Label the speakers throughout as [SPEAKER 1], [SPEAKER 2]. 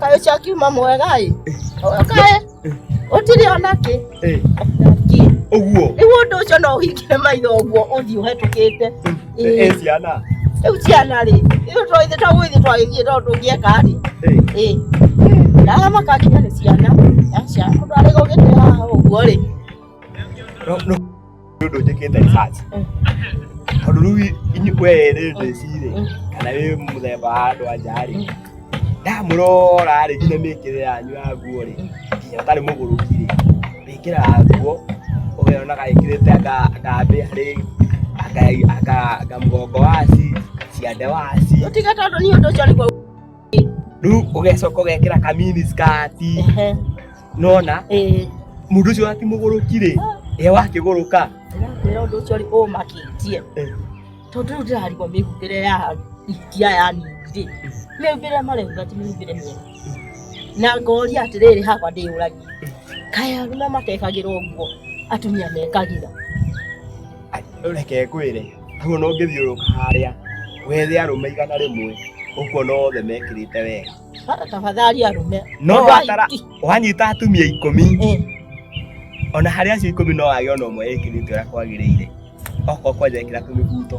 [SPEAKER 1] Kayo cha kiuma mwega ĩ. Kayo. Utiri ona ki. Eh. Uguo. Ni wundu ucio no uhingire maitho uguo uthi uhetukite. Eh ciana. Riu ciana ri. Riu to ithe to gwithi to ithe to ndungieka ri. Eh. Eh. Na makakinya ni ciana. Ya ciana. Kundu ari gugite haha uguo ri. No. nĩ ũndũ njĩkĩte research tondũ rĩu inyu- we rĩ ndĩcirĩ kana wĩ mũthemba wa andũ anja rĩ ndamũrora rĩ nginya mĩkĩre yanyu ya nguo rĩ nginya ũtarĩ mũgũrũki rĩ wĩkĩraga nguo ũgeonaga ĩkĩrĩte anga- ngambĩ harĩ anga- anga- anga mũgongo waci ciande waci Tiga tondũ niĩ ũndũ ũcio nĩguo rĩu ũgecoka ũgekĩra kamini skati Ehe, nona eh, mũndũ ũcio wakimũgũrũki rĩ e wakĩgũrũka ndĩrakwĩra ũndũ ũcio rĩ ũmakĩtie Eh. tondũ rĩu ndĩrarigwo mĩhumbĩre ya itia ya ningĩ mĩhumbĩre mareuga ti mĩhumbĩre mĩega na ngoria atĩrĩrĩ hakwa ndĩyũragia kaĩ arũme matekagĩrwo nguo atumia mekagĩra reke ngwĩre hau no ngĩthiũrũka harĩa wethe arũme igana rĩmwe ũkuona othe mekĩrĩte wega tafadhali arũme no watara wanyita atumia ikũmi eh. ona harĩa acio ikũmi no wage ona ũmwe ĩkĩrĩte ũrĩa kwagĩrĩire okorwo kwanja ĩkĩra tũmĩbuto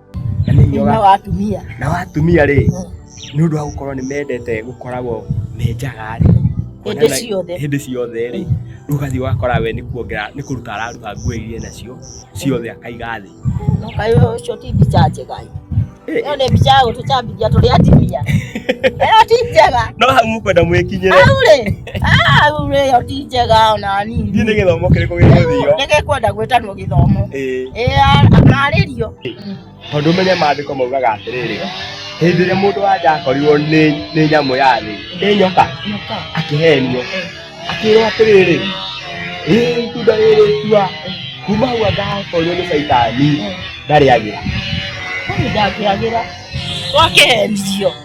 [SPEAKER 1] na wa atumia na wa atumia rĩ nĩ ũndũ wa gũkorwo nĩ mendete gũkoragwo me njaga rĩ Hĩndĩ Kuonana- ciothe. hĩndĩ ciothe rĩ rĩu ũgathiĩ wakora we nĩ kuongera nĩ kũruta araruta nguo iria nacio ciothe akaiga thĩ no kaĩ ũcio ti mbica njega ĩ. Eh, ĩyo nĩ mbica ya gũtũcambithia tũrĩ atumia ĩyo ti njega no hau mũkwenda mwĩkinyĩre au rĩ Ah, rĩu rĩ yo ti njega ona Thiĩ nini. nĩ gĩthomo kĩrĩkũ gĩgũthio. Reke kwenda gwĩtanwo gĩthomo. Ĩĩ. Ĩĩ marĩrio. Tondũ ũmenye maandĩko maugaga atĩrĩrĩ, hĩndĩ ĩrĩa mũndũ wa nja akorirwo nĩ nĩ nyamũ ya thĩ, nĩ nyoka, Nyoka. akĩhenio, akĩrwo atĩrĩrĩ, ĩĩ itunda rĩrĩ tua, kuma hau angakorirwo nĩ caitani, ndarĩagĩra. Kwani ndangĩagĩra. Wakĩhenio.